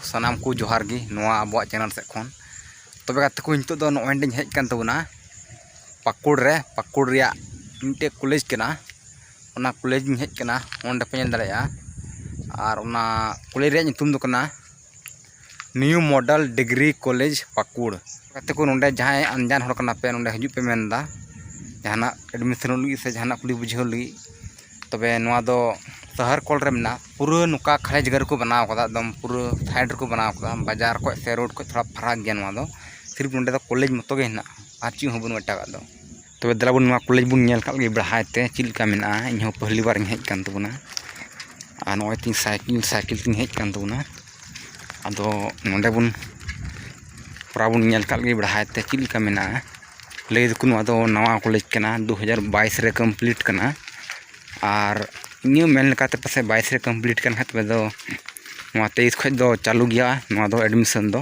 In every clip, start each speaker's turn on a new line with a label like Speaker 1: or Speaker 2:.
Speaker 1: ᱥᱟᱱᱟᱢ ᱠᱚ ᱡᱚᱦᱟᱨ ᱜᱮ ᱱᱚᱣᱟ ᱟᱵᱚᱣᱟᱜ ᱪᱮᱱᱮᱞ ᱥᱮᱫ ᱠᱷᱚᱱ ᱛᱚᱵᱮ ᱜᱟᱛᱮ ᱠᱚ ᱱᱤᱛᱚᱜ ᱫᱚ ᱱᱚᱜᱼᱚᱭ ᱱᱚᱰᱮᱧ ᱦᱮᱡ ᱟᱠᱟᱱ ᱛᱟᱵᱚᱱᱟ ᱯᱟᱹᱠᱩᱲ ᱨᱮ ᱯᱟᱹᱠᱩᱲ ᱨᱮᱭᱟᱜ ᱢᱤᱫᱴᱮᱡ ᱠᱚᱞᱮᱡᱽ ᱠᱟᱱᱟ ᱚᱱᱟ ᱠᱚᱞᱮᱡᱽ ᱤᱧ ᱦᱮᱡ ᱟᱠᱟᱱᱟ ᱚᱸᱰᱮ ᱯᱮ ᱧᱮᱞ ᱫᱟᱲᱮᱭᱟᱜᱼᱟ ᱟᱨ ᱚᱱᱟ ᱠᱚᱞᱮᱡᱽ ᱨᱮᱭᱟᱜ ᱧᱩᱛᱩᱢ ᱫᱚ ᱠᱟᱱᱟ new model degree college Pakur ᱜᱟᱛᱮ ᱠᱚ ᱱᱚᱰᱮ ᱡᱟᱦᱟᱸᱭ ᱟᱱᱡᱟᱱ ᱦᱚᱲ ᱠᱟᱱᱟ ᱯᱮ ᱱᱚᱰᱮ ᱦᱤᱡᱩᱜ ᱯᱮ ᱢᱮᱱᱫᱟ ᱡᱟᱦᱟᱱᱟᱜ ᱮᱰᱢᱤᱥᱚᱱᱚᱜ ᱞᱟᱹᱜᱤᱫ ᱥᱮ ᱡᱟᱦᱟᱱᱟᱜ ᱠᱩᱞᱤ ᱵᱩᱡᱷᱟᱹᱣ ᱞᱟᱹᱜᱤᱫ ᱛᱚᱵᱮ ᱱᱚᱣᱟ ᱫᱚ ᱥᱟᱦᱟᱨ ᱠᱚᱬ ᱨᱮ ᱢᱮᱱᱟᱜᱼᱟ ᱯᱩᱨᱟᱹ ᱱᱚᱝᱠᱟ ᱠᱷᱟᱲᱮ ᱡᱟᱭᱜᱟ ᱨᱮᱠᱚ ᱵᱮᱱᱟᱣ ᱠᱟᱫᱟ ᱮᱠᱫᱚᱢ ᱯᱩᱨᱟᱹ ᱥᱟᱭᱤᱰ ᱨᱮᱠᱚ ᱵᱮᱱᱟᱣ ᱠᱟᱫᱟ ᱵᱟᱡᱟᱨ ᱠᱷᱚᱡ ᱥᱮ ᱨᱳᱰ ᱠᱷᱚᱡ ᱛᱷᱚᱲᱟ ᱯᱷᱟᱨᱟᱠ ᱜᱮᱭᱟ ᱱᱚᱣᱟ ᱫᱚ ᱥᱤᱨᱤᱯ ᱱᱚᱰᱮ ᱫᱚ ᱠᱚᱞᱮᱡᱽ ᱢᱚᱛᱚ ᱜᱮ ᱦᱮᱱᱟᱜᱼᱟ ᱟᱨ ᱪᱮᱫ ᱦᱚᱸ ᱵᱟᱹᱱᱩᱜᱼᱟ ᱮᱴᱟᱜᱟᱜ ᱫᱚ ᱛᱚᱵᱮ ᱫᱮᱞᱟ ᱵᱚᱱ ᱱᱚᱣᱟ ᱠᱚᱞᱮᱡᱽ ᱵᱚᱱ ᱧᱮᱞ ᱠᱟᱜ ᱞᱮᱜᱮ ᱵᱮᱲᱦᱟᱭ ᱛᱮ ᱪᱮᱫ ᱞᱮᱠᱟ ᱢᱮᱱᱟᱜᱼᱟ ᱤᱧ ᱦᱚᱸ ᱯᱟᱹᱦᱞᱤ ᱵᱟᱨ ᱤᱧ ᱦᱮᱡ ᱠᱟᱱ ᱛᱟᱵᱚᱱᱟ ᱟᱨ ᱱᱚᱜᱼᱚᱭ ᱛᱤᱧ ᱥᱟᱭᱠᱮᱞ ᱥᱟᱭᱠᱮᱞ ᱛᱤᱧ ᱦᱮᱡ ᱠᱟᱱ ᱛᱟᱵᱚᱱᱟ ᱟᱫᱚ ᱱᱚᱰᱮ ᱵᱚᱱ ᱛᱷᱚᱲᱟ ᱵᱚᱱ ᱧᱮᱞ ᱠᱟᱜ ᱞᱮᱜᱮ ᱵᱮᱲᱦᱟᱭ ᱛᱮ ᱪᱮᱫ ᱞᱮᱠᱟ ᱢᱮᱱᱟᱜᱼᱟ ᱞᱟᱹᱭ ᱫᱚᱠᱚ ᱱᱚᱣᱟ ᱫᱚ ᱱᱟᱣᱟ ᱠᱚᱞᱮᱡᱽ ᱠᱟᱱᱟ ᱫᱩ ᱦᱟᱡᱟᱨ ᱵᱟᱭᱤᱥ ᱨᱮ ᱠᱚᱢᱯᱞᱤᱴ ᱠᱟᱱᱟ ᱟᱨ ᱤᱧᱟᱹᱜ ᱢᱮᱱ ᱞᱮᱠᱟᱛᱮ ᱯᱟᱥᱮᱡ ᱵᱟᱭᱤᱥ ᱨᱮ ᱠᱚᱢᱯᱞᱤᱴ ᱠᱟᱱ ᱠᱷᱟᱡ ᱛᱚᱵᱮ ᱫᱚ ᱱᱚᱣᱟ ᱛᱮᱭᱤᱥ ᱠᱷᱚᱡ ᱫᱚ ᱪᱟᱹᱞᱩ ᱜᱮᱭᱟ ᱱᱚᱣᱟ ᱫᱚ ᱮᱰᱢᱤᱥᱚᱱ ᱫᱚ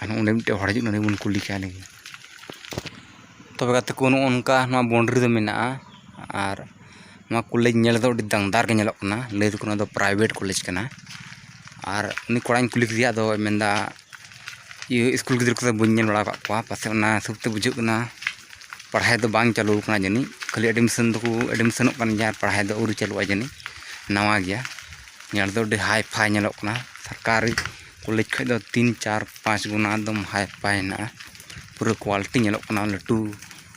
Speaker 1: ᱟᱨᱦᱚᱸ ᱚᱸᱰᱮ ᱢᱤᱫᱴᱮᱡ ᱦᱚᱲ ᱦᱤᱡᱩᱜ ᱠᱟᱱᱟ ᱩᱱᱤ ᱵᱚᱱ ᱠᱩᱞᱤ ᱠᱟᱭ ᱞᱮᱜᱮ ᱛᱚᱵᱮ ᱜᱟᱛᱮ ᱠᱚ ᱱᱚᱜᱼᱚ ᱱᱚᱝᱠᱟ ᱱᱚᱣᱟ ᱵᱟᱣᱩᱱᱰᱨᱤ ᱫᱚ ᱢᱮᱱᱟᱜᱼᱟ ᱟᱨ ᱱᱚᱣᱟ ᱠᱚᱞᱮᱡᱽ ᱧᱮᱞ ᱨᱮᱫᱚ ᱟᱹᱰᱤ ᱫᱟᱝᱫᱟᱨ ᱜᱮ ᱧᱮᱞᱚᱜ ᱠᱟᱱᱟ ᱞᱟᱹᱭ ᱫᱚᱠᱚ ᱱᱚᱣᱟ ᱫᱚ ᱯᱨᱟᱭᱵᱷᱮᱴ ᱠᱚᱞᱮᱡᱽ ᱠᱟᱱᱟ ᱟᱨ ᱩᱱᱤ ᱠᱚᱲᱟᱧ ᱠᱩᱞᱤ ᱠᱮᱫᱮᱭᱟ ᱟᱫᱚᱭ ᱢᱮᱱᱫᱟ ᱤᱭᱟᱹ ᱥᱠᱩᱞ ᱜᱤᱫᱽᱨᱟᱹ ᱠᱚᱫᱚ ᱵᱟᱹᱧ ᱧᱮᱞ ᱵᱟᱲᱟ ᱟᱠᱟᱫ ᱠᱚᱣᱟ ᱯᱟᱥᱮᱡ ᱚᱱᱟ ᱦᱤᱥᱟᱹᱵ ᱛᱮ ᱵᱩᱡᱷᱟᱹᱜ ᱠᱟᱱᱟ ᱯᱟᱲᱦᱟᱣ ᱫᱚ ᱵᱟᱝ ᱪᱟᱹᱞᱩ ᱟᱠᱟᱱᱟ ᱡᱟᱹᱱᱤᱡ ᱠᱷᱟᱹᱞᱤ ᱮᱰᱢᱤᱥᱚᱱ ᱫᱚᱠᱚ ᱮᱰᱢᱤᱥᱚᱱᱚᱜ ᱠᱟᱱ ᱜᱮᱭᱟ ᱯᱟᱲᱦᱟᱣ ᱫᱚ ᱟᱹᱣᱨᱤ ᱪᱟᱹᱞᱩᱜᱼᱟ ᱡᱟᱹᱱᱤᱡ ᱱᱟᱣᱟ ᱜᱮᱭᱟ ᱧᱮᱞ ᱫᱚ ᱟᱹᱰᱤ ᱦᱟᱭ ᱯᱷᱟᱭ ᱧᱮᱞᱚᱜ ᱠᱟᱱᱟ ᱥᱚᱨᱠᱟᱨᱤ ᱠᱚᱞᱮᱡᱽ ᱠᱷᱚᱱ ᱫᱚ ᱛᱤᱱ ᱪᱟᱨ ᱯᱟᱸᱪ ᱜᱩᱱᱟ ᱮᱠᱫᱚᱢ ᱦᱟᱭ ᱯᱷᱟᱭ ᱦᱮᱱᱟᱜᱼᱟ ᱯᱩᱨᱟᱹ ᱠᱳᱣᱟᱞᱤᱴᱤ ᱧᱮᱞᱚᱜ ᱠᱟᱱᱟ ᱞᱟᱹᱴᱩ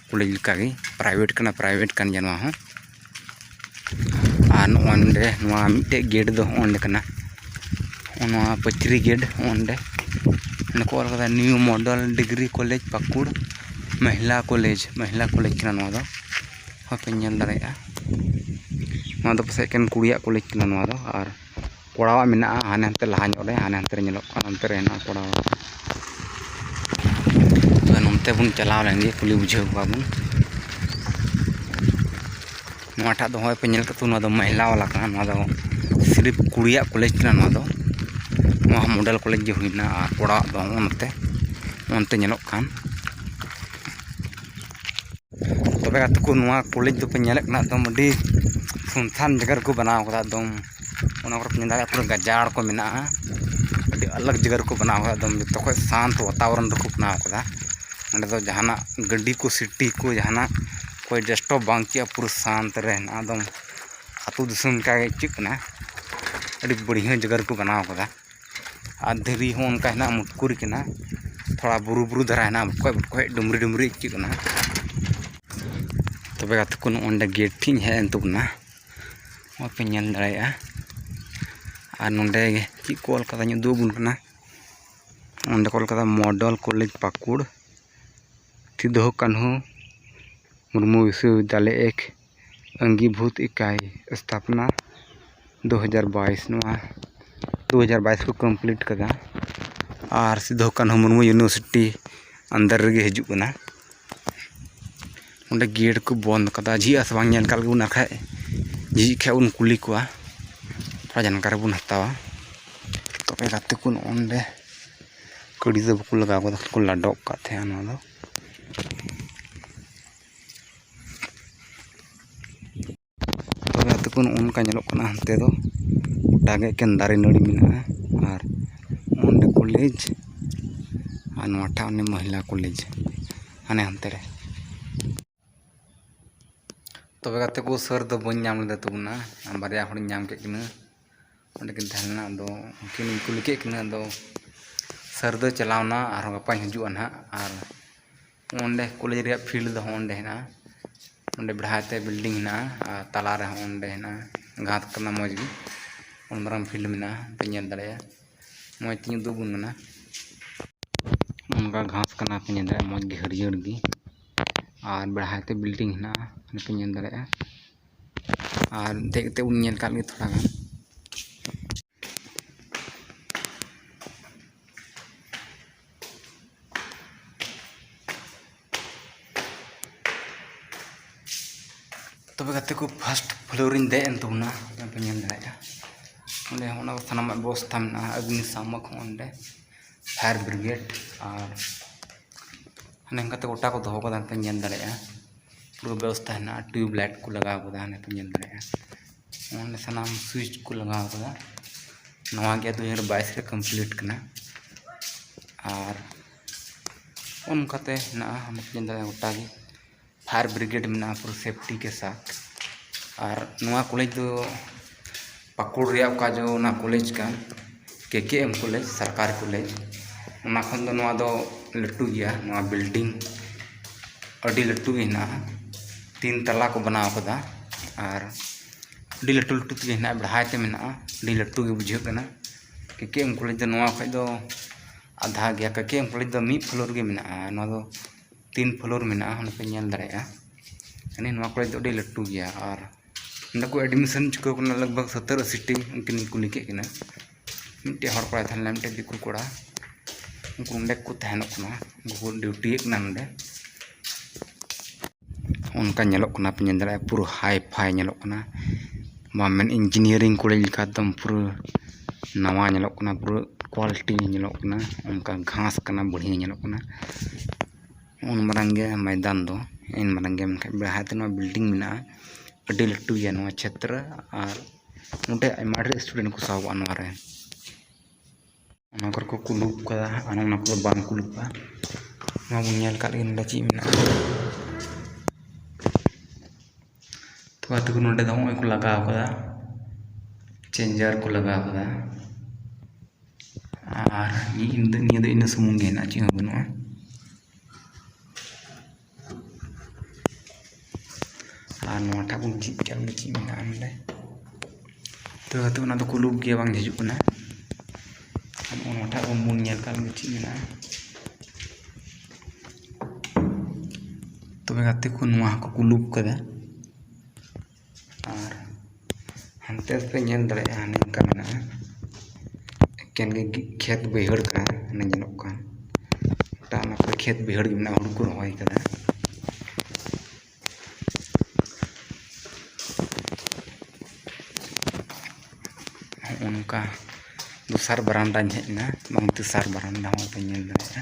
Speaker 1: ᱠᱚᱞᱮᱡᱽ ᱞᱮᱠᱟᱜᱮ ᱯᱨᱟᱭᱵᱷᱮᱴ ᱠᱟᱱᱟ ᱯᱨᱟᱭᱵᱷᱮᱴ ᱠᱟᱱ ᱜᱮᱭᱟ ᱱᱚᱣᱟ ᱦᱚᱸ ᱟᱨ ᱱᱚᱜᱼᱚᱸᱭ ᱱᱚᱰᱮ ᱱᱚᱣᱟ ᱢᱤᱫᱴᱮᱡ ᱜᱮᱹᱴ ᱫᱚ ᱦᱚᱸᱜᱼᱚᱸᱭ ᱱᱚᱰᱮ ᱠᱟᱱᱟ ᱦᱚᱸᱜᱼᱚᱸᱭ ᱱᱚᱣᱟ ᱯᱟᱹᱪᱨᱤ ᱜᱮᱹᱴ ᱦᱚᱸᱜᱼᱚᱸᱭ ᱱᱚᱰᱮ ᱱᱚᱸᱰᱮ ᱠᱚ ᱚᱞ ᱠᱟᱫᱟ new model degree college Pakur ᱢᱚᱦᱤᱞᱟ ᱠᱚᱞᱮᱡᱽ ᱢᱚᱦᱤᱞᱟ ᱠᱚᱞᱮᱡᱽ ᱠᱟᱱᱟ ᱱᱚᱣᱟ ᱫᱚ ᱦᱚᱸᱜᱼᱚᱸᱭ ᱯᱮ ᱧᱮᱞ ᱫᱟᱲᱮᱭᱟᱜᱼᱟ ᱱᱚᱣᱟ ᱫᱚ ᱯᱟᱥᱮᱡ ᱮᱠᱮᱱ ᱠᱩᱲᱤᱭᱟᱜ ᱠᱚᱞᱮᱡᱽ ᱠᱟᱱᱟ ᱱᱚᱣᱟ ᱫᱚ ᱟᱨ ᱠᱚᱲᱟᱣᱟᱜ ᱢᱮᱱᱟᱜᱼᱟ ᱦᱟᱱᱮ ᱦᱟᱱᱛᱮ ᱞᱟᱦᱟ ᱧᱚᱜ ᱨᱮ ᱦᱟᱱᱮ ᱦᱟᱱᱛᱮ ᱨᱮ ᱧᱮᱞᱚᱜ ᱠᱟᱱᱟ ᱚᱱᱛᱮ ᱨᱮ ᱦᱮᱱᱟᱜᱼᱟ ᱠᱚᱲᱟᱣᱟᱜ ᱛᱚᱵᱮ ᱱᱚᱱᱛᱮ ᱵᱚᱱ ᱪᱟᱞᱟᱣ ᱞᱮᱱ ᱜᱮ ᱠᱩᱞᱤ ᱵᱩᱡᱷᱟᱹᱣ ᱠᱚᱣᱟ ᱵᱚᱱ ᱱᱚᱣᱟ ᱴᱟᱜ ᱫᱚ ᱦᱚᱸᱜᱼᱚᱭ ᱯᱮ ᱧᱮᱞ ᱠᱟᱫᱟ ᱱᱚᱣᱟ ᱫᱚ ᱢᱚᱦᱤᱞᱟ ᱵᱟᱞᱟ ᱠᱟᱱᱟ ᱱᱚᱣᱟ ᱫᱚ ᱥᱤᱨᱤᱯ ᱠᱩᱲᱤᱭᱟᱜ ᱠᱚᱞᱮᱡᱽ ᱠᱟᱱᱟ ᱱᱚᱣᱟ ᱫᱚ ᱱᱚᱣᱟ ᱦᱚᱸ ᱢᱚᱰᱮᱞ ᱠᱚᱞᱮᱡᱽ ᱜᱮ ᱦᱩᱭᱱᱟ ᱟᱨ ᱠᱚᱲᱟᱣᱟᱜ ᱫᱚ ᱦᱚᱸᱜᱼᱚ ᱱᱚᱛᱮ ᱚᱱᱛᱮ ᱧᱮᱞᱚᱜ ᱠᱟᱱ ᱛᱚᱵᱮ ᱜᱟᱛᱮ ᱠᱚ ᱱᱚᱣᱟ ᱠᱚᱞᱮᱡᱽ ᱫᱚᱠᱚ ᱧᱮᱞᱮᱫ ᱠᱟᱱᱟ ᱮᱠᱫᱚᱢ ᱟᱹᱰᱤ ᱥᱩᱱᱥᱟᱱ ᱡᱟᱭᱜᱟ ᱨᱮᱠᱚ ᱵᱮᱱᱟᱣ ᱠᱟᱫᱟ ᱮᱠᱫᱚᱢ ᱚᱱᱟ ᱠᱚᱨᱮ ᱠᱚ ᱢᱮᱱ ᱫᱟᱲᱮᱭᱟᱜᱼᱟ ᱯᱩᱨᱟᱹ ᱜᱟᱡᱟᱲ ᱠᱚ ᱢᱮᱱᱟᱜᱼᱟ ᱟᱹᱰᱤ ᱟᱞᱟᱜᱽ ᱡᱟᱭᱜᱟ ᱨᱮᱠᱚ ᱵᱮᱱᱟᱣ ᱠᱟᱫᱟ ᱮᱠᱫᱚᱢ ᱡᱚᱛᱚ ᱠᱷᱚᱡ ᱥᱟᱱᱛ ᱵᱟᱛᱟᱵᱚᱨᱚᱱ ᱨᱮᱠᱚ ᱵᱮᱱᱟᱣ ᱠᱟᱫᱟ ᱚᱸᱰᱮ ᱫᱚ ᱡᱟᱦᱟᱱᱟᱜ ᱜᱟᱹᱰᱤ ᱠᱚ ᱥᱤᱴᱤ ᱠᱚ ᱡᱟᱦᱟᱱᱟᱜ ᱚᱠᱚᱭ ᱰᱤᱥᱴᱟᱵᱽ ᱵᱟᱝ ᱪᱮᱫ ᱦᱚᱸ ᱯᱩᱨᱟᱹ ᱥᱟᱱᱛ ᱨᱮ ᱦᱮᱱᱟᱜᱼᱟ ᱮᱠᱫᱚᱢ ᱟᱹᱛᱩ ᱫᱤᱥᱚᱢ ᱞᱮᱠᱟᱜᱮ ᱟᱹᱭᱠᱟᱹᱜ ᱠᱟᱱᱟ ᱟᱹᱰᱤ ᱵᱟᱹᱲᱭᱟᱹ ᱡᱟᱭᱜᱟ ᱨᱮᱠᱚ ᱵᱮᱱᱟᱣ ᱠᱟᱫᱟ ᱟᱨ ᱫᱷᱤᱨᱤ ᱦᱚᱸ ᱚᱱᱠᱟ ᱦᱮᱱᱟᱜᱼᱟ ᱢᱩᱴᱠᱩᱨ ᱠᱟᱱᱟ ᱛᱷᱚᱲᱟ ᱵᱩᱨᱩ ᱵᱩᱨᱩ ᱫᱷᱟᱨᱟ ᱦᱮᱱᱟᱜᱼᱟ ᱵᱚᱠᱚᱡ ᱵᱚᱠᱚᱡ ᱰᱩᱝᱨᱤ ᱰᱩᱝᱨᱤ ᱟᱹᱭᱠᱟᱹᱜ ᱠᱟᱱᱟ ᱛᱚᱵᱮ ᱜᱟᱛᱮ ᱠᱚ ᱱᱚᱜᱼᱚᱸᱭ ᱱᱚᱰᱮ ᱜᱮᱹᱴ ᱴᱷᱮᱡ ᱤᱧ ᱦᱮᱡ ᱮᱱ ᱛᱟᱵᱚᱱᱟ ᱱᱚᱜᱼᱚᱸᱭ ᱯᱮ ᱧᱮᱞ ᱫᱟᱲᱮᱭᱟᱜᱼᱟ ᱟᱨ ᱱᱚᱰᱮ ᱪᱮᱫ ᱠᱚ ᱚᱞ ᱠᱟᱫᱟᱧ ᱩᱫᱩᱜ ᱟᱵᱚᱱ ᱠᱟᱱᱟ ᱚᱸᱰᱮ ᱠᱚ ᱚᱞ ᱠᱟᱫᱟ ᱢᱚᱰᱚᱞ ᱠᱚᱞᱮᱡᱽ ᱯᱟᱹᱠᱩᱲ ᱥᱤᱫᱩ ᱠᱟᱹᱱᱦᱩ ᱢᱩᱨᱢᱩ ᱵᱤᱥᱥᱚ ᱵᱤᱫᱽᱫᱟᱞᱚᱭ ᱮᱠ ᱟᱹᱝᱜᱤᱵᱷᱩᱛ ᱤᱠᱟᱭ ᱥᱛᱷᱟᱯᱚᱱᱟ ᱫᱩ ᱦᱟᱡᱟᱨ ᱵᱟᱭᱤᱥ ᱱᱚᱣᱟ ᱫᱩ ᱦᱟᱡᱟᱨ ᱵᱟᱭᱤᱥ ᱠᱚ ᱠᱚᱢᱯᱞᱤᱴ ᱠᱟᱫᱟ ᱟᱨ ᱥᱤᱫᱩ ᱠᱟᱹᱱᱦᱩ ᱢᱩᱨᱢᱩ ᱤᱭᱩᱱᱤᱵᱷᱟᱨᱥᱤᱴᱤ ᱟᱱᱰᱟᱨ ᱨᱮᱜᱮ ᱦᱤᱡᱩᱜ ᱠᱟᱱᱟ ᱚᱸᱰᱮ ᱜᱮᱹᱴ ᱠᱚ ᱵᱚᱱᱫᱽ ᱠᱟᱫᱟ ᱡᱷᱤᱡ ᱟᱥᱮ ᱵᱟᱝ ᱧᱮᱞ ᱠᱟᱜ ᱵᱚᱱ ᱵᱟᱠᱷᱟᱡ ᱡᱷᱤᱡ ᱠᱷᱟᱡ ᱵᱚᱱ ᱠᱩᱞᱤ ᱠᱚᱣᱟ ᱛᱷᱚᱲᱟ ᱡᱟᱱᱠᱟᱨᱤ ᱵᱚᱱ ᱦᱟᱛᱟᱣᱟ ᱛᱚᱵᱮ ᱜᱟᱛᱮ ᱠᱚ ᱱᱚᱜᱼᱚ ᱱᱚᱰᱮ ᱠᱟᱹᱲᱤ ᱫᱚ ᱵᱟᱠᱚ ᱞᱟᱜᱟᱣ ᱠᱟᱫᱟ ᱠᱚ ᱞᱟᱰᱚᱜ ᱠᱟᱜ ᱛᱟᱦᱮᱱᱟ ᱱᱚᱣᱟ ᱫᱚ ᱛᱚᱵᱮ ᱟᱛᱳ ᱠᱚ ᱱᱚᱜᱼᱚ ᱱᱚᱝᱠᱟ ᱧᱮᱞᱚᱜ ᱠᱟᱱᱟ ᱦᱟᱱᱛᱮ ᱫᱚ ᱜᱚᱴᱟ ᱜᱮ ᱮᱠᱮᱱ ᱫᱟᱨᱮ ᱱᱟᱹᱲᱤ ᱢᱮᱱᱟᱜᱼᱟ ᱟᱨ ᱚᱸᱰᱮ ᱠᱚᱞᱮᱡᱽ ᱟᱨ ᱱᱚᱣᱟ ᱴᱟᱜ ᱚᱱᱮ ᱢᱚᱦᱤᱞᱟ ᱠᱚᱞᱮᱡᱽ ᱦᱟᱱᱮ ᱦᱟᱱᱛᱮ ᱨᱮ ᱛᱚᱵᱮ ᱜᱟᱛᱮ ᱠᱚ ᱥᱟᱨ ᱫᱚ ᱵᱟᱹᱧ ᱧᱟᱢ ᱞᱮᱫᱮ ᱛᱟᱵᱚᱱᱟ ᱵᱟᱨᱭᱟ ᱦᱚᱲᱤᱧ ᱧᱟᱢ ᱠᱮᱫ ᱠᱤᱱᱟᱹ ᱚᱸᱰᱮ ᱠᱤᱱ ᱛᱟᱦᱮᱸ ᱞᱮᱱᱟ ᱟᱫᱚ ᱩᱱᱠᱤᱱᱤᱧ ᱠᱩᱞᱤ ᱠᱮᱫ ᱠᱤᱱᱟᱹ ᱟᱫᱚ ᱥᱟᱨ ᱫᱚᱭ ᱪᱟᱞᱟᱣᱱᱟ ᱟᱨᱦᱚᱸ ᱜᱟᱯᱟᱭ ᱦᱤᱡᱩᱜᱼᱟ ᱱᱟᱦᱟᱜ ᱟᱨ ᱚᱸᱰᱮ ᱠᱚᱞᱮᱡᱽ ᱨᱮᱭᱟᱜ ᱯᱷᱤᱞᱰ ᱫᱚ ᱚᱸᱰᱮ ᱦᱮᱱᱟᱜᱼᱟ ᱚᱸᱰᱮ ᱵᱮᱲᱦᱟᱭ ᱛᱮ ᱵᱤᱞᱰᱤᱝ ᱦᱮᱱᱟᱜᱼᱟ ᱟᱨ ᱛᱟᱞᱟ ᱨᱮ ᱦᱚᱸ ᱚᱸᱰᱮ ᱦᱮᱱᱟᱜᱼᱟ ᱜᱷᱟᱥ ᱠᱟᱱᱟ ᱢᱚᱡᱽ ᱜᱮ ᱩᱱ ᱢᱟᱨᱟᱝ ᱯᱷᱤᱞᱰ ᱢᱮᱱᱟᱜᱼᱟ ᱯᱮ ᱧᱮᱞ ᱫᱟᱲᱮᱭᱟᱜᱼᱟ ᱢᱚᱡᱽ ᱛᱮᱧ ᱩᱫᱩᱜ ᱟᱵᱚᱱ ᱠᱟᱱᱟ ᱚᱱᱠᱟ ᱜᱷᱟᱥ ᱠᱟᱱᱟ ᱯᱮ ᱧᱮᱞ ᱫᱟᱲᱮᱭᱟᱜᱼᱟ ᱢᱚᱡᱽ ᱜᱮ ᱦᱟᱹᱨᱭᱟᱹᱲ ᱜᱮ ᱟᱨ ᱵᱮᱲᱦᱟᱭ ᱛᱮ ᱵᱤᱞᱰᱤᱝ ᱦᱮᱱᱟᱜᱼᱟ ᱚᱱᱟ ᱯᱮ ᱧᱮᱞ ᱫᱟᱲᱮᱭᱟᱜᱼᱟ ᱟᱨ ᱫᱮᱡ ᱠᱟᱛᱮᱫ ᱵᱚᱱ ᱧᱮᱞ ᱠᱟᱜ ᱜᱮ ᱛᱷᱚᱲᱟ ᱜᱟᱱ ᱛᱚᱵᱮ ᱜᱟᱛᱮ ᱠᱚ ᱯᱷᱟᱥᱴ ᱯᱷᱞᱳᱨᱤᱧ ᱫᱮᱡ ᱮᱱ ᱛᱟᱵᱚᱱᱟ ᱚᱱᱟ ᱯᱮ ᱧᱮᱞ ᱫᱟᱲᱮᱭᱟᱜᱼᱟ ᱚᱸᱰᱮ ᱦᱚᱸ ᱚᱱᱟ ᱥᱟᱱᱟᱢᱟᱜ ᱵᱮᱵᱚᱥᱛᱷᱟ ᱢᱮᱱᱟᱜᱼᱟ ᱚᱜᱽᱱᱤᱥᱟᱢᱚᱠ ᱦᱚᱸ ᱚᱸᱰᱮ ᱯᱷᱟᱭᱟᱨ ᱵᱨᱤᱜᱮᱰ ᱟᱨ ᱦᱟᱱᱮ ᱚᱱᱠᱟᱛᱮ ᱜᱚᱴᱟ ᱠᱚ ᱫᱚᱦᱚ ᱠᱟᱫᱟ ᱯᱮ ᱧᱮᱞ ᱫᱟᱲᱮᱭᱟᱜᱼᱟ ᱯᱩᱨᱟᱹ ᱵᱮᱵᱚᱥᱛᱷᱟ ᱦᱮᱱᱟᱜᱼᱟ ᱴᱤᱭᱩᱵᱽ ᱞᱟᱭᱤᱴ ᱠᱚ ᱞᱟᱜᱟᱣ ᱠᱟᱫᱟ ᱦᱟᱱᱮ ᱯᱮ ᱧᱮᱞ ᱫᱟᱲᱮᱭᱟᱜᱼᱟ ᱚᱱᱮ ᱥᱟᱱᱟᱢ ᱥᱩᱭᱤᱪ ᱠᱚ ᱞᱟᱜᱟᱣ ᱠᱟᱫᱟ ᱱᱚᱣᱟ ᱜᱮ ᱫᱩ ᱦᱟᱡᱟᱨ ᱵᱟᱭᱤᱥ ᱨᱮ ᱠᱚᱢᱯᱞᱤᱴ ᱠᱟᱱᱟ ᱟᱨ ᱚᱱᱠᱟᱛᱮ ᱦᱮᱱᱟᱜᱼᱟ ᱢᱩᱥᱞᱤᱢ ᱫᱟᱫᱟ ᱜᱚᱴᱟ ᱜᱮ ᱯᱷᱟᱭᱟᱨ ᱵᱨᱤᱜᱮᱰ ᱢᱮᱱᱟᱜᱼᱟ ᱯᱩᱨᱟᱹ ᱥᱮᱯᱴᱤ ᱠᱮ ᱥᱟᱛᱷ ᱟᱨ ᱱᱚᱣᱟ ᱠᱚᱞᱮᱡᱽ ᱫᱚ ᱯᱟᱹᱠᱩᱲ ᱨᱮᱭᱟᱜ ᱚᱠᱟ ᱡᱮ ᱚᱱᱟ ᱠᱚᱞᱮᱡᱽ ᱠᱟᱱ ᱠᱮ ᱠᱮ ᱮᱢ ᱠᱚᱞᱮᱡᱽ ᱥᱚᱨᱠᱟᱨᱤ ᱠᱚᱞᱮᱡᱽ ᱚᱱᱟ ᱠᱷᱚᱱ ᱫᱚ ᱱᱚᱣᱟ ᱫᱚ ᱞᱟᱹᱴᱩ ᱜᱮᱭᱟ ᱱᱚᱣᱟ ᱵᱤᱞᱰᱤᱝ ᱟᱹᱰᱤ ᱞᱟᱹᱴᱩ ᱜᱮ ᱦᱮᱱᱟᱜᱼᱟ ᱛᱤᱱ ᱛᱟᱞᱟ ᱠᱚ ᱵᱮᱱᱟᱣ ᱟᱠᱟᱫᱟ ᱟᱨ ᱟᱹᱰᱤ ᱞᱟᱹᱴᱩ ᱞᱟᱹᱴᱩ ᱛᱮᱜᱮ ᱦᱮᱱᱟᱜᱼᱟ ᱵᱮᱲᱦᱟᱭ ᱛᱮ ᱢᱮᱱᱟᱜᱼᱟ ᱟᱹᱰᱤ ᱞᱟᱹᱴᱩ ᱜᱮ ᱵᱩᱡᱷᱟᱹᱜ ᱠᱟᱱᱟ ᱠᱮ ᱠᱮ ᱮᱢ ᱠᱚᱞᱮᱡᱽ ᱫᱚ ᱱᱚᱣᱟ ᱠᱷᱚᱱ ᱫᱚ ᱟᱫᱷᱟ ᱜᱮᱭᱟ ᱠᱮ ᱠᱮ ᱮᱢ ᱠᱚᱞᱮᱡᱽ ᱫᱚ ᱢᱤᱫ ᱯᱷᱞᱳᱨ ᱜᱮ ᱢᱮᱱᱟᱜᱼᱟ ᱟᱨ ᱱᱚᱣᱟ ᱫᱚ ᱛᱤᱱ ᱯᱷᱞᱳᱨ ᱢᱮᱱᱟᱜᱼᱟ ᱚᱱᱟ ᱯᱮ ᱧᱮᱞ ᱫᱟᱲᱮᱭᱟᱜᱼᱟ ᱢᱟᱱᱮ ᱱᱚᱣᱟ ᱠᱚᱞᱮᱡᱽ ᱫᱚ ᱟᱹᱰᱤ ᱞᱟᱹᱴᱩ ᱜᱮᱭᱟ ᱟᱨ ᱱᱚᱸᱰᱮ ᱠᱚ ᱮᱰᱢᱤᱥᱚᱱ ᱪᱩᱠᱟᱹᱣ ᱟᱠᱟᱱᱟ ᱞᱟᱜᱽ ᱵᱷᱟᱜᱽ ᱥᱚᱛᱛᱳᱨ ᱟᱹᱥᱤ ᱴᱤ ᱩᱱᱠᱤᱱ ᱜᱮᱠᱚ ᱠᱩᱞᱤ ᱠᱮᱫ ᱠᱤᱱᱟ ᱢᱤᱫᱴᱮᱱ ᱦᱚᱲ ᱠᱚᱲᱟᱭ ᱛᱟᱦᱮᱸ ᱞᱮᱱᱟ ᱢᱤᱫᱴᱮᱱ ᱫᱤᱠᱩ ᱠᱚᱲᱟ ᱩᱱᱠᱩ ᱱᱚᱸᱰᱮ ᱜᱮᱠᱚ ᱛᱟᱦᱮᱱᱚᱜ ᱠᱟᱱᱟ ᱩᱱᱠᱩ ᱠᱚ ᱰᱤᱭᱩᱴᱤᱭᱮᱫ ᱠᱟᱱᱟ ᱱᱚᱸᱰᱮ ᱚᱱᱠᱟ ᱧᱮᱞᱚᱜ ᱠᱟᱱᱟ ᱯᱮ ᱧᱮᱞ ᱫᱟᱲᱮᱭᱟᱜᱼᱟ ᱯᱩᱨᱟᱹ ᱦᱟᱭ ᱯᱷᱟᱭ ᱧᱮᱞᱚᱜ ᱠᱟᱱᱟ ᱵᱟᱢ ᱢᱮᱱ ᱤᱧᱡᱤᱱᱤᱭᱟᱨᱤᱝ ᱠᱚᱞᱮᱡᱽ ᱞᱮᱠᱟ ᱮᱠᱫᱚᱢ ᱯᱩᱨᱟᱹ ᱱᱟᱣᱟ ᱧᱮᱞᱚᱜ ᱠᱟᱱᱟ ᱯᱩᱨᱟᱹ ᱠᱚᱣᱟᱞᱤᱴᱤ ᱧᱮᱞᱚᱜ ᱠᱟᱱᱟ ᱚᱱᱠᱟ ᱜᱷᱟᱥ ᱠᱟᱱᱟ ᱵᱟᱹᱲᱤᱭᱟᱹ ᱧᱮᱞᱚᱜ ᱠᱟᱱᱟ ᱩᱱ ᱢᱟᱨᱟᱝ ᱜᱮ ᱢᱚᱭᱫᱟᱱ ᱫᱚ ᱩᱱ ᱢᱟᱨᱟᱝ ᱜᱮ ᱢᱮᱱᱠᱷᱟᱡ ᱵᱮᱲᱦᱟᱭ ᱛᱮ ᱱᱚᱣᱟ ᱵᱤᱞᱰᱤᱝ ᱢᱮᱱᱟᱜᱼᱟ ᱟᱹᱰᱤ ᱞᱟᱹᱴᱩ ᱜᱮᱭᱟ ᱱᱚᱣᱟ ᱪᱷᱮᱛᱨᱚ ᱟᱨ ᱱᱚᱰᱮ ᱟᱭᱢᱟ ᱰᱷᱮᱨ ᱥᱴᱩᱰᱮᱱᱴ ᱠᱚ ᱥᱟᱦᱚᱵᱚᱜᱼᱟ ᱱᱚᱣᱟᱨᱮ ᱚᱱᱟ ᱠᱚᱨᱮ ᱠᱚ ᱠᱩᱞᱩᱵ ᱠᱟᱫᱟ ᱟᱨ ᱚᱱᱟ ᱠᱚᱫᱚ ᱵᱟᱝ ᱠᱩᱞᱩᱵ ᱠᱟᱜᱼᱟ ᱱᱚᱣᱟ ᱵᱚᱱ ᱧᱮᱞ ᱠᱟᱜ ᱞᱮᱜᱮ ᱱᱚᱰᱮ ᱪᱮᱫ ᱢᱮᱱᱟᱜᱼᱟ ᱛᱚ ᱜᱟᱛᱮ ᱠᱚ ᱱᱚᱰᱮ ᱫᱚ ᱦᱚᱸᱜᱼᱚᱭ ᱠᱚ ᱞᱟᱜᱟᱣ ᱠᱟᱫᱟ ᱪᱮᱧᱡᱟᱨ ᱠᱚ ᱞᱟᱜᱟᱣ ᱠᱟᱫᱟ ᱟᱨ ᱱᱤᱭᱟᱹ ᱫᱚ ᱤᱱᱟᱹ ᱥᱩᱢᱩᱝ ᱜᱮ ᱦᱮᱱᱟᱜᱼᱟ ᱪᱮᱫ ᱦᱚᱸ ᱵᱟᱹᱱᱩᱜᱼᱟ ᱟᱨ ᱱᱚᱣᱟᱴᱟᱜ ᱵᱚᱱ ᱡᱷᱤᱡ ᱠᱟᱜᱼᱟ ᱵᱚᱞᱮ ᱪᱮᱫ ᱢᱮᱱᱟᱜᱼᱟ ᱱᱚᱰᱮ ᱛᱚ ᱱᱤᱛᱚᱜ ᱚᱱᱟ ᱫᱚᱠᱚ ᱞᱩᱠ ᱜᱮᱭᱟ ᱵᱟᱝ ᱡᱷᱤᱡᱚᱜ ᱠᱟᱱᱟ ᱟᱨ ᱱᱚᱣᱟᱴᱟᱜ ᱵᱚᱱ ᱵᱚᱱ ᱧᱮᱞ ᱠᱟᱜ ᱵᱚᱞᱮ ᱪᱮᱫ ᱢᱮᱱᱟᱜᱼᱟ ᱛᱚᱵᱮ ᱜᱟᱛᱮ ᱠᱚ ᱱᱚᱣᱟ ᱦᱚᱸᱠᱚ ᱞᱩᱠ ᱠᱟᱫᱟ ᱟᱨ ᱦᱟᱱᱛᱮ ᱦᱚᱸᱯᱮ ᱧᱮᱞ ᱫᱟᱲᱮᱭᱟᱜᱼᱟ ᱱᱚᱝᱠᱟ ᱢᱮᱱᱟᱜᱼᱟ ᱮᱠᱮᱱ ᱜᱮ ᱠᱷᱮᱛ ᱵᱟᱹᱭᱦᱟᱹᱲ ᱠᱟᱱᱟ ᱚᱱᱮ ᱧᱮᱞᱚᱜ ᱠᱟᱱ ᱜᱚᱴᱟ ᱚᱱᱟ ᱠᱚᱨᱮ ᱠᱷᱮᱛ ᱵᱟᱹᱭᱦᱟᱹᱲ ᱜᱮ ᱢᱮᱱᱟᱜᱼᱟ ᱦᱩᱲᱩ ᱠᱚ ᱨᱚᱦᱚᱭ ᱠᱟᱫᱟ ᱦᱚᱸᱜᱼᱚ ᱱᱚᱝᱠᱟ ᱫᱚᱥᱟᱨ ᱵᱟᱨᱮᱱᱫᱟᱧ ᱦᱮᱡ ᱮᱱᱟ ᱵᱟᱝ ᱛᱮᱥᱟᱨ ᱵᱟᱨᱮᱱᱫᱟ ᱦᱚᱸᱯᱮ ᱧᱮᱞ ᱫᱟᱲᱮᱭᱟᱜᱼᱟ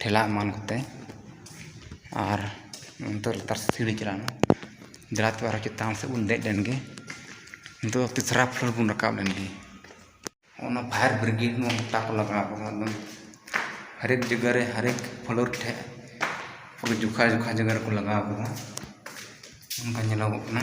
Speaker 1: ᱴᱷᱮᱞᱟᱣ ᱮᱢᱟᱱ ᱠᱚᱛᱮ ᱟᱨ ᱱᱤᱛᱚᱜ ᱞᱟᱛᱟᱨ ᱥᱮᱫ ᱥᱤᱲᱤ ᱪᱟᱞᱟᱣᱱᱟ ᱫᱮᱞᱟ ᱛᱚᱵᱮ ᱟᱨᱦᱚᱸ ᱪᱮᱛᱟᱱ ᱥᱮᱫ ᱵᱚᱱ ᱫᱮᱡ ᱞᱮᱱᱜᱮ ᱱᱤᱛᱚᱜ ᱫᱚ ᱛᱮᱥᱨᱟ ᱯᱷᱞᱳᱨ ᱵᱚᱱ ᱨᱟᱠᱟᱵ ᱞᱮᱱᱜᱮ ᱚᱱᱟ ᱯᱷᱟᱭᱟᱨ ᱵᱨᱤᱜᱮᱰ ᱢᱟ ᱜᱚᱴᱟ ᱠᱚ ᱞᱟᱜᱟᱣ ᱠᱟᱫᱟ ᱮᱠᱫᱚᱢ ᱦᱟᱨᱮᱠ ᱡᱟᱭᱜᱟ ᱨᱮ ᱦᱟᱨᱮᱠ ᱯᱷᱞᱳᱨ ᱴᱷᱮᱡ ᱯᱩᱨᱟᱹ ᱡᱚᱠᱷᱟ ᱡᱚᱠᱷᱟ ᱡᱟᱭᱜᱟ ᱨᱮᱠᱚ ᱞᱟᱜᱟᱣ ᱠᱟᱫᱟ ᱚᱱᱠᱟ ᱧᱮᱞᱚᱜᱚᱜ ᱠᱟᱱᱟ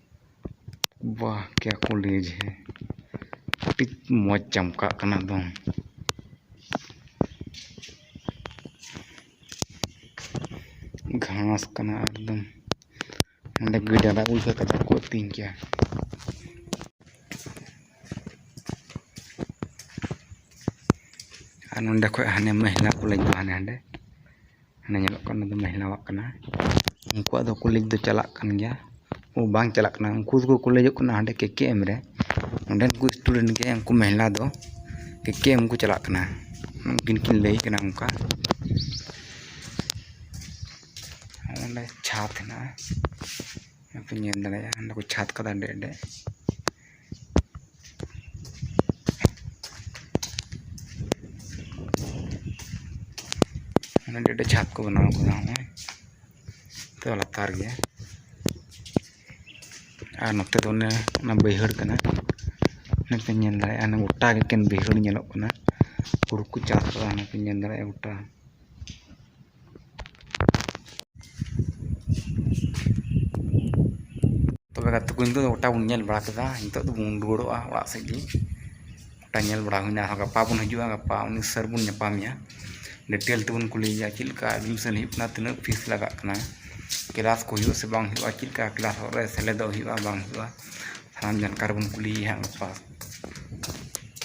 Speaker 1: ᱵᱟᱦ ᱠᱮᱭᱟ ᱠᱚᱞᱮᱡᱽ ᱦᱮ ᱟᱹᱰᱤ ᱢᱚᱡᱽ ᱪᱟᱢᱠᱟᱜ ᱠᱟᱱᱟ ᱮᱠᱫᱚᱢ ᱜᱷᱟᱥ ᱠᱟᱱᱟ ᱮᱠᱫᱚᱢ ᱚᱸᱰᱮ ᱜᱟᱹᱭ ᱰᱟᱝᱨᱟ ᱠᱚ ᱞᱮᱠᱟ ᱠᱟᱡᱟᱠ ᱠᱚ ᱟᱹᱛᱤᱧ ᱠᱮᱭᱟ ᱟᱨ ᱱᱚᱸᱰᱮ ᱠᱷᱚᱡ ᱦᱟᱱᱮ ᱢᱮᱦᱞᱟ ᱠᱚᱞᱮᱡᱽ ᱫᱚ ᱦᱟᱱᱮ ᱦᱟᱸᱰᱮ ᱦᱟᱱᱮ ᱧᱮᱞᱚᱜ ᱠᱟᱱ ᱫᱚ ᱢᱮᱦᱱᱟᱣᱟᱜ ᱠᱟᱱᱟ ᱩᱱᱠᱩᱣᱟᱜ ᱫᱚ ᱠᱚᱞᱮᱡᱽ ᱫᱚ ᱪᱟᱞᱟᱜ ᱠᱟᱱ ᱜᱮᱭᱟ ᱳ ᱵᱟᱝ ᱪᱟᱞᱟᱜ ᱠᱟᱱᱟ ᱩᱱᱠᱩ ᱫᱚᱠᱚ ᱠᱚᱞᱮᱡᱚᱜ ᱠᱟᱱᱟ ᱦᱟᱸᱰᱮ ᱠᱮ ᱠᱮ ᱮᱢ ᱨᱮ ᱚᱸᱰᱮᱱ ᱠᱚ ᱥᱴᱩᱰᱮᱱᱴ ᱜᱮ ᱩᱱᱠᱩ ᱢᱮᱦᱱᱟ ᱫᱚ ᱠᱮ ᱠᱮ ᱮᱢ ᱠᱚ ᱪᱟᱞᱟᱜ ᱠᱟᱱᱟ ᱩᱱᱠᱤᱱ ᱠᱤᱱ ᱞᱟᱹᱭ ᱠᱟᱱᱟ ᱚᱱᱠᱟ ᱚᱸᱰᱮ ᱪᱷᱟᱫᱽ ᱦᱮᱱᱟᱜᱼᱟ ᱚᱱᱟ ᱯᱮ ᱧᱮᱞ ᱫᱟᱲᱮᱭᱟᱜᱼᱟ ᱚᱸᱰᱮ ᱠᱚ ᱪᱷᱟᱫᱽ ᱠᱟᱫᱟ ᱟᱹᱰᱤ ᱟᱸᱴᱮ ᱟᱹᱰᱤ ᱟᱹᱰᱤ ᱡᱷᱟᱯ ᱠᱚ ᱵᱮᱱᱟᱣ ᱠᱟᱫᱟ ᱦᱚᱸᱜᱼᱚᱭ ᱛᱚ ᱞᱟᱛᱟᱨ ᱜᱮ ᱟᱨ ᱱᱚᱛᱮ ᱫᱚ ᱚᱱᱮ ᱚᱱᱟ ᱵᱟᱹᱭᱦᱟᱹᱲ ᱠᱟᱱᱟ ᱚᱱᱮ ᱯᱮ ᱧᱮᱞ ᱫᱟᱲᱮᱭᱟᱜᱼᱟ ᱚᱱᱟ ᱜᱚᱴᱟ ᱜᱮ ᱮᱠᱮᱱ ᱵᱟᱹᱭᱦᱟᱹᱲ ᱧᱮᱞᱚᱜ ᱠᱟᱱᱟ ᱦᱩᱲᱩ ᱠᱚ ᱪᱟᱥ ᱠᱟᱫᱟ ᱚᱱᱟ ᱯᱮ ᱧᱮᱞ ᱫᱟᱲᱮᱭᱟᱜᱼᱟ ᱜᱚᱴᱟ ᱛᱚᱵᱮ ᱜᱟᱛᱮ ᱠᱚ ᱱᱤᱛᱚᱜ ᱫᱚ ᱜᱚᱴᱟ ᱵᱚᱱ ᱧᱮᱞ ᱵᱟᱲᱟ ᱠᱮᱫᱟ ᱱᱤᱛᱚᱜ ᱫᱚᱵᱚᱱ ᱨᱩᱣᱟᱹᱲᱚᱜᱼᱟ ᱚᱲᱟᱜ ᱥᱮᱫ ᱜᱮ ᱜᱚᱴᱟ ᱧᱮᱞ ᱵᱟᱲᱟ ᱦᱩᱭᱱᱟ ᱟᱨᱦᱚᱸ ᱜᱟᱯᱟ ᱵᱚᱱ ᱦᱤᱡᱩᱜᱼᱟ ᱜᱟᱯᱟ ᱩᱱᱤ ᱥᱟᱨ ᱵᱚᱱ ᱧᱟᱯᱟᱢᱮᱭᱟ ᱰᱤᱴᱮᱞ ᱛᱮᱵᱚᱱ ᱠᱩᱞᱤᱭᱮᱭᱟ ᱪᱮᱫ ᱞᱮᱠᱟ ᱮᱰᱢᱤᱥᱚᱱ ᱦᱩᱭᱩᱜ ᱠᱟᱱᱟ ᱛᱤᱱᱟᱹᱜ ᱯᱷᱤᱥ ᱞᱟᱜᱟᱜ ᱠᱟᱱᱟ ᱠᱞᱟᱥ ᱠᱚ ᱦᱩᱭᱩᱜᱼᱟ ᱥᱮ ᱵᱟᱝ ᱦᱩᱭᱩᱜᱼᱟ ᱪᱮᱫ ᱞᱮᱠᱟ ᱠᱞᱟᱥ ᱨᱮ ᱥᱮᱞᱮᱫᱚᱜ ᱦᱩᱭᱩᱜᱼᱟ ᱵᱟᱝ ᱦᱩᱭᱩᱜᱼᱟ ᱥᱟᱱᱟᱢ ᱡᱟᱱᱠᱟᱨᱤ ᱵᱚᱱ ᱠᱩᱞᱤᱭᱮᱭᱟ ᱦᱟᱸᱜ ᱜᱟᱯᱟ